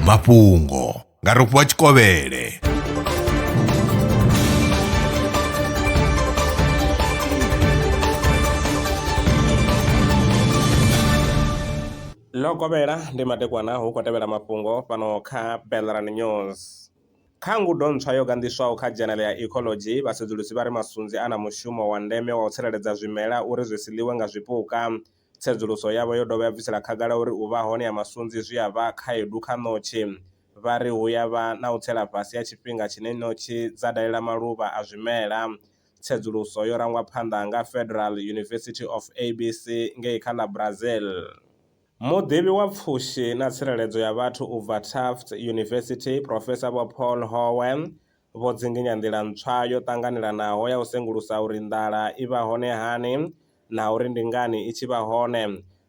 mafhungo nga rofhiwa tshikovhele ḽo kovhela ndi madekwana hu khou tevhela mafhungo fhano kha belran news kha ngudo ntswa yo ganḓiswaho kha dzhenele ya ecology vhasedzulusi vha ri masunzi a na mushumo wa ndeme wa u tsireledza zwimela uri zwi si ḽiwe nga zwipuka Tsedzuluso yavho yo dovha ya bvisela khagala uri u vha hone ha masunzi zwi a vha khaedu kha ṋotshi. Vha ri hu ya vha na u tsela fhasi ha tshifhinga tshine ṋotshi dza dalela maluvha a zwimela. Tsedzuluso yo rangwa phanḓa nga Federal University of ABC ngei kha ḽa Brazil. Muḓivhi wa pfushi na tsireledzo ya vhathu u bva Tufts University, Professor Vho Paul Howe, vho dzinginya nḓila ntswa yo ṱanganelanaho ya u sengulusa uri nḓala i vha hone hani na uri ndi ngani i tshi vha hone.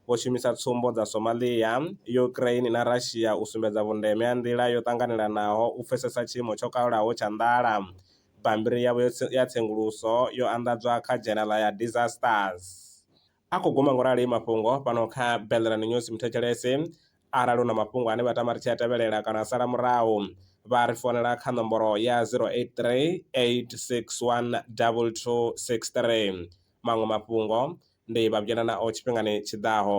Vho shumisa tsumbo dza Somalia, Ukraine na Russia u sumbedza vhundeme ha nḓila yo ṱanganelanaho u pfesesa tshiimo tsho kalulaho tsha nḓala. Bammbiri yavho ya tsenguluso yo anḓadzwa kha dzhenala ya Disasters. A khou guma ngo rali mafhungo fhano kha Belleran News Muthetshelesi arali u na mafhungo ane vha tama ri tshi a tevhelela kana a sala murahu, vha ri founela kha nomboro ya 0838612263. Maṅwe mafhungo ndi vha vhuyelanaho tshifhingani tshi ḓaho.